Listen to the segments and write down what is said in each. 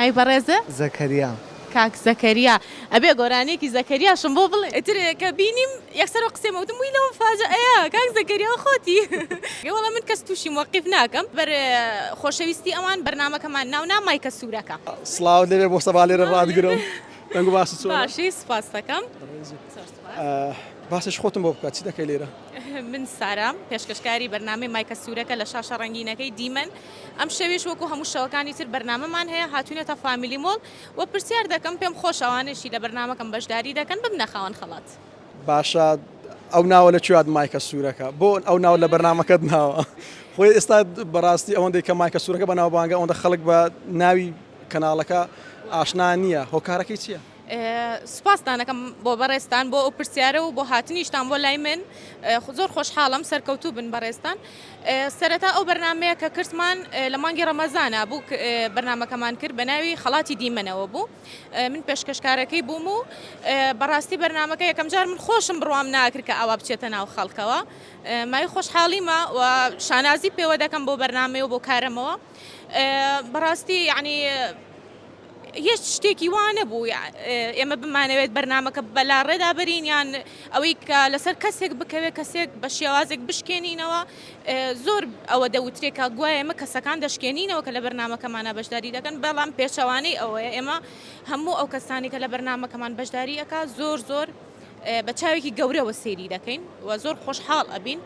ئەی بەڕێزە؟ زەکەریا. کاک زەکەریا. ئەبێ گۆرانیەکی زەکەریاشم بۆ بڵێ. ئیتر کە بینیم یەکسەر ئەو قسەیەم وتم وی لەو مفاجەئەیە کاک زەکەریا خۆتی. ئێ وەڵا من کەس توشی موەقیف ناکەم بەر خۆشەویستی ئەوان بەرنامەکەمان ناو نا مایکە سورەکە. سڵاوت لێبێ مۆستەفا لێرە ڕاتگرم دەنگ و باست چۆنە. باشی سوپاستەکەم زۆر سوپاس. باسێکی خۆتم بۆ بکە چی دەکەی لێرە. من سارام پێشکەشکاری بەرنامەی مایکە سورەکە لە شاشە ڕەنگینەکەی دیمەن. ئەم شەویش وەکو هەموو شەوەکانی تر بەرنامەمان هەیە هاتوینەتە فامیلی مۆڵ وە پرسیار دەکەم پێم خۆشە ئەوانەشی لە بەرنامەکەم بەشداری دەکەن ببنە خاوەن خەڵات. باشە ئەو ناوە لە کوێ هات مایکە سورەکە بۆ ئەو ناوە لە بەرنامەکەت ناوە خۆی ئێستا بەڕاستی ئەوەندەی کە مایکە سورەکە بەناوبانگە ئەوەندە خەڵک بە ناوی کەناڵەکە ئاشنا نییە هۆکارەکەی چییە؟ سوپاستان ئەکەم بۆ بەڕێزتان بۆ ئەو پرسیارە و بۆ هاتنیشتان بۆ لای من زۆر خۆشحاڵم سەرکەوتوو بن بەڕێزتان سەرەتا ئەو بەرنمەیە کە کردمان لە مانگی ڕەمەزانە بوو بەرنمەکەمان کرد بە ناوی خەڵاتی دیمەنەوە بوو من پێشکەشکارەکەی بووم و بەڕاستی بەرنمەکە یەکەم جار من خۆشم بڕوام ناکرد کە ئاوا بچێتە ناو خەڵکەوە مای خۆشحاڵیمە و شانازی پێوە دەکەم بۆ بەرنمەوە بۆ کارەمەوە بەڕاستی یعنی هیچ شتێکی وا نەبوو ئێمە بمانەوێت بەرنمەکە بەلاڕێدا بەرین یان ئەوەی کە لەسەر کەسێک بکەوێت کەسێک بە شێوازێک بشکێنینەوە زۆر ئەوە دەوترێکە گوایە ئمە کەسەکان دەشکێنینەوە کە لە بەرنمەکەمانە بەشداری دەکەن بەڵام پێچەوانەی ئەوەیە ئێمە هەموو ئەو کەسانی کە لە بەرنمەکەمان بەشداری ئەک زۆر زۆر بە چاوێکی گەورەوە سێری دەکەین و زۆر خۆشحاڵ ئەبین.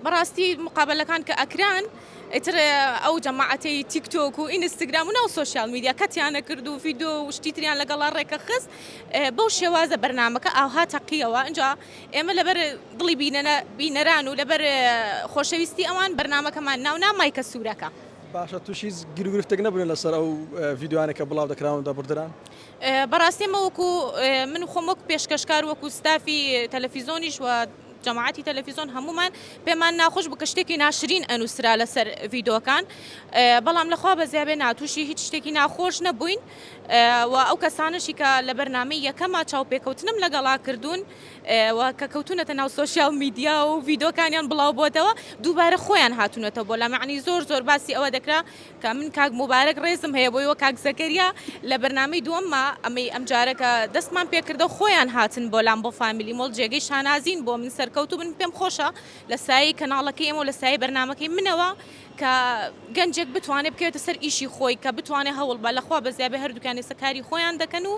بەڕاستی مقابەلەکان کە ئەکران ئیتر ئەو جەماعەتەی تیکتۆک و ئینستاگرام و ناو سۆشیال میدیا کەتیانە کرد و فیدۆ و شتی تریان لەگەڵا ڕێکە خست بەو شێوازە بەرنمەکە ئاها تەقیەوە ئەجا ئێمە لەبەر دڵی بینەران و لەبەر خۆشەویستی ئەوان بەرنمەکەمان ناونا مایکە سوورەکە. باشە توش هیچ گیروگرفتێک نەبوونە لەسەر ئەو ڤیدیۆیانە کە بڵاو دەکراون و دەبڕدران؟ بەڕاستی ئێمە وەکو من خۆم وەک پێشکەشکار وەکو ستافی تەلەفیزۆنیش و جەماعەتی تەلەفیزۆن هەموومان پێمان ناخۆش بوو کە شتێکی ناشرین ئەنووسرا لەسەر ڤیدۆکان بەڵام لەخوا بەزیا بێ ناتوشی هیچ شتێکی ناخۆش نەبووین و ئەو کەسانەشی کە لە بەرنامەی یەکەما چاوپێکەوتنم لەگەڵا کردوون و کە کەوتونەتە ناو سۆشیال میدیا و ڤیدۆکانیان بڵاو بۆتەوە دووبارە خۆیان هاتونەتەوە بۆ لامەعنی زۆر زۆر باسی ئەوە دەکرا کە من کاک موبارەک ڕێزم هەیە بۆی وە کاک زەکەریا لە بەرنامەی دووەمما ئەمەی ئەمجارە کە دەستمان پێکردە و خۆیان هاتن بۆ لام بۆ فامیلی مۆڵ جێگەی شانازین بۆ من سەرکەوتوو بن پێم خۆشە لە سایەی کەناڵەکەی ئێمە و لە سایەی بەرنامەکەی منەوە کە گەنجێک بتوانێ بکەوێتە سەر ئیشی خۆی کە بتوانێ هەوڵ بە لە خوا بەزیابێ هەردووکیان ئێستا کاری خۆیان دەکەن و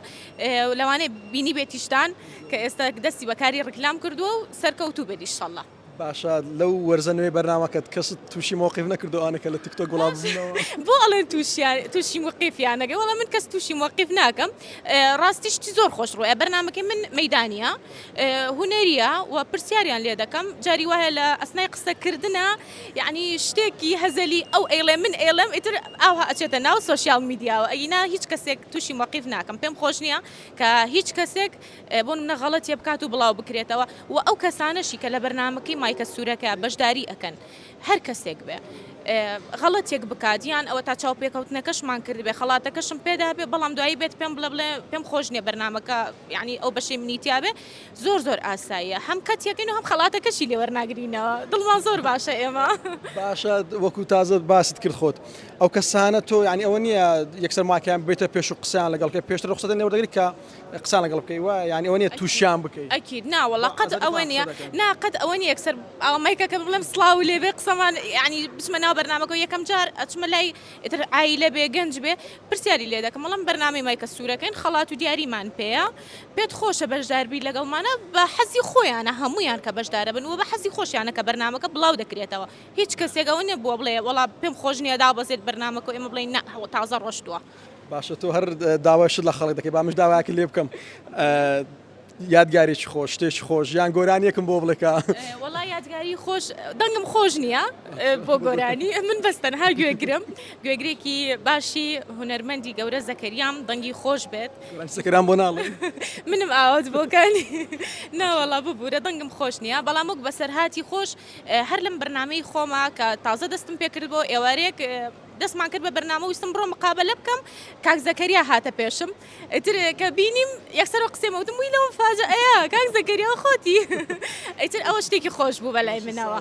لەوانەیە بینیبێتیشتان کە ئێستا دەستی بە کاری ڕیکلام کردووە و سەرکەوتوو بێت ئیشەڵڵا. باشە لەو وەرزە نوێی بەرنامەکەت کەست تووشی مۆقیف نەکردووە ئەوانەی کە لە تیک تۆک وڵاو ببوونەوە؟ بۆ ئەڵێن تووشیان تووشی موقیفیان نەکرد وەڵا من کەس تووشی مۆقیف ناکەم ڕاستی شتی زۆر خۆش ڕوویە بەرنامەکەی من مەیدانییە هونەرییە و پرسیاریان لێ دەکەم جاری وایە لە ئەسنای قسە کردنا یەعنی شتێکی هەزەلی ئەو ئەیڵێ من ئەیڵێم ئیتر ئاوها ئەچێتە ناو سۆشیاڵ میدیاوە ئەگینا هیچ کەسێک تووشی مۆقیف ناکەم پێم خۆش نییە کە هیچ کەسێک بۆ نمونە غەڵەتێ بکات و بڵاو بکرێتەوە و ئەو کەسانەشی کە لە بەرنامەکەی مایکە سورەکە بەشداری ئەکەن هەر کەسێک بێ غەڵەتێک بکات یان ئەوە تا چاوپێکەوتنەکەشمان کردبێ خەڵاتەکەشم پێدابێ بەڵام دوایی بێت پێم بڵێ بڵێ پێم خۆش نیە بەرنمەکە یعنی ئەو بەشەی منی تیاابێ زۆر زۆر ئاساییە هەم کەت یەکەین و هەم خەڵاتەکەشی لێوەرناگرینەوە دڵمان زۆر باشە ئێمە باشە وەکو تازە باست کرد خۆت ئەو کەسانە تۆ یعنی ئەوە نیە یەکسەر ماکەیان بێتە پێش و قسەیان لەگەڵکە پێشتر ڕخسەدە نێوەدەگرکە قسان لەگەڵ بکەی وە یانی ئەوە نیە تووشیان بکەی ئەکید نا وەڵا قەت ئەوە نیە نا قەت ئەوە نیە یەکسەر ئەوە مایکەکە بڵێم سڵاو لێ بێ قسەمان یانی بچمە ناو بەرنامەکە و یەکەم جار ئەچمە لای ئیتر عایلە بێ گەنج بێ پرسیاری لێ دەکەم وەڵام بەرنامەی مایکە سوورەکەین خەڵات و دیاریمان پێەیە پێت خۆشە بەشداربی لەگەڵمانە بە حەزی خۆیانە هەمویان کە بەشدارە بن و بە حەزی خۆشیانە کە بەرنامەکە بڵاو دەکرێتەوە هیچ کەسێک ئەوە نەبووە بڵێ وەڵا پێم خۆش نیە دابەزێت بەرنامەکە و ئێمە بڵێن نا تازە ڕۆشتووە. باشە تۆ هەر داوای شت لە خەڵک دەکەی با منش داوایەکت لێ بکەم یادگارێکی خۆش شتێکی خۆش یان گۆرانیەکم بۆ بڵێ کە وەڵا یادگاری خۆش دەنگم خۆش نییە بۆ گۆرانی من بەستەن هەر گوێگرم گوێگرێکی باشی هوەرمەندی گەورە زەکەریام دەنگی خۆش بێت سەکران بۆ ناڵێ منم ئاوت بۆکانی ناوەڵا ببوورە دەنگم خۆش نییە بەڵام وەک بەسەرهاتی خۆش هەر لەم برنامەی خۆما کە تازە دەستم پێکرد بۆ ئێوارێک دەستمان کرد بە بەرنامە و ویستم بڕۆم مقابەلە بکەم، کاک زەکەریا هاتە پێشم ئیتر کە بینیم یەکسەر وە قسەی وتم وی لەو مفاجەئەیە کاک زەکەریا خۆتی ئیتر ئەوە شتێکی خۆش بوو بەلای منەوە.